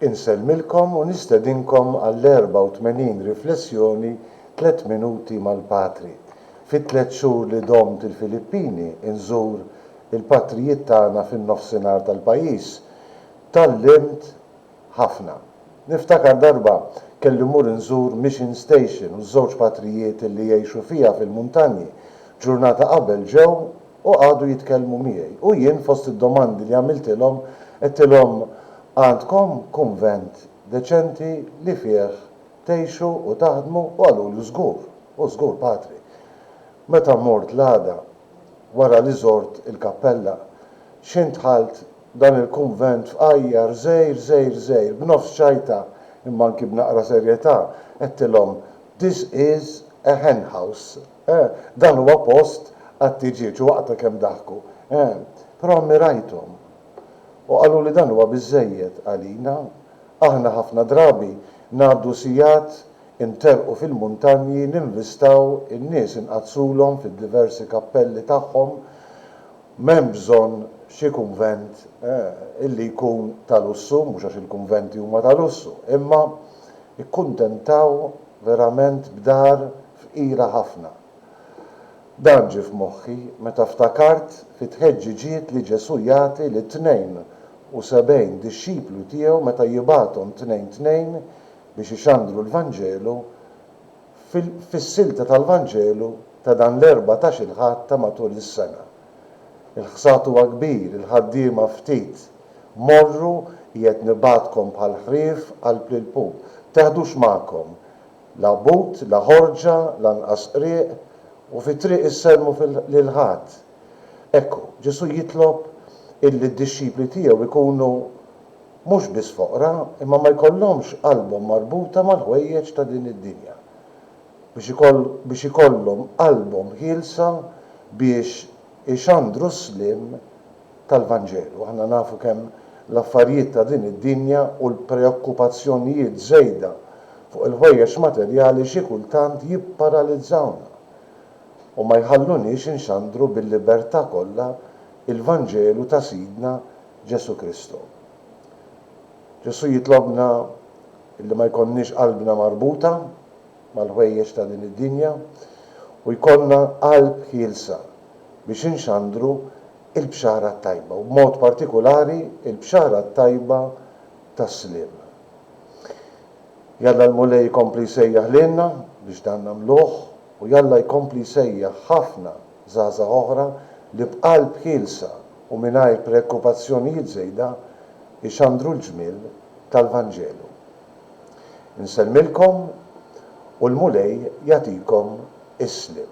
Insellmilkom u nistedinkom għall-84 riflessjoni Tliet Minuti mal-Patri. Fit-tliet xhur li domt il-Filippini, inżur il-patrijiet tagħna fin-Nofsinhar tal-pajjiż. Tgħallimt ħafna. Niftakar darba kelli mmur inżur Mission Station u ż-żewġ patrijiet li jgħixu fiha fil-muntanji. Ġurnata qabel ġew u qagħdu jitkellmu miegħi u jien fost id-domandi li għamiltilhom għedtilhom għandkom kunvent deċenti li fih tgħixu u taħdmu u qaluli żgur, u żgur Patri. Meta mort l-għada wara li żort il-kappella x'ħin dħalt dan il-kunvent fqajjar żgħir żgħir żgħir b'nofs ċajta imma anki b'naqra serjetà għedtilhom this is a hen house. Eh, dan huwa post għat-tiġieġ u waqta kemm daħku. Eh, però ammirajthom. U qaluli dan huwa biżżejjed għalina. Aħna ħafna drabi ngħaddu sigħat interrqu fil-muntanji ninvistaw in-nies inqaddsulhom fid-diversi kappelli tagħhom. M'hemm bżonn xi kunvent, eh, illi jkun ta' lussu, mhux għax il-kunventi huma ta' lussu, imma kkuntentaw verament b'dar fqira ħafna. Dan ġie f'moħħi meta ftakart fit-tħeġġiġiet li Ġesù jagħti lit-tnejn u sebgħin dixxiplu tiegħu meta jibgħathom tnejn tnejn biex ixandru l-Vanġelu fis-silta tal-Vanġelu ta' dan l-Erbatax-il Ħadd ta' matul is-sena. Il-ħsad huwa kbir, il-ħaddiema ftit. Morru, qiegħed nibgħatkom bħall-ħrief qalb lill-pup. Teħdux magħkom. La but, la ħorġa, lanqas qrieq, u fit-triq issellmu lil ħadd. Ekku, Ġesù jitlob illi d-dixxipli tiegħu jkunu mhux biss foqra, imma ma jkollhomx qalbhom marbuta mal-ħwejjeġ ta' din id-dinja, biex ikollhom qalbhom ħielsa biex ixandru s-sliem tal-Vanġelu. Aħna nafu kemm l-affarijiet ta' din id-dinja u l-preokkupazzjonijiet żejda fuq il-ħwejjeġ materjali xi kultant jipparalizzawna u ma jħalluniex inxandru bil-libertà kollha l-Vanġelu ta' Sidna Ġesù Kristu. Ġesù jitlobna li ma jkollniex qalbna marbuta. mal-ħwejjeġ ta' din id-dinja u jkollna qalb ħielsa biex inxandru l-Bxara t-Tajba u b'mod partikulari l-Bxara t-Tajba tas-sliem. Jalla l-Mulej ikompli jsejjaħ lilna biex dan nagħmluh u jalla jkompli jsejjaħ ħafna żgħażagħ oħra li b'qalb ħielsa u mingħajr preokkupazzjonijiet żejda jxandru l-ġmiel tal-Vanġelu. Nsellmilkom u l-Mulej jagħtikom is-sliem.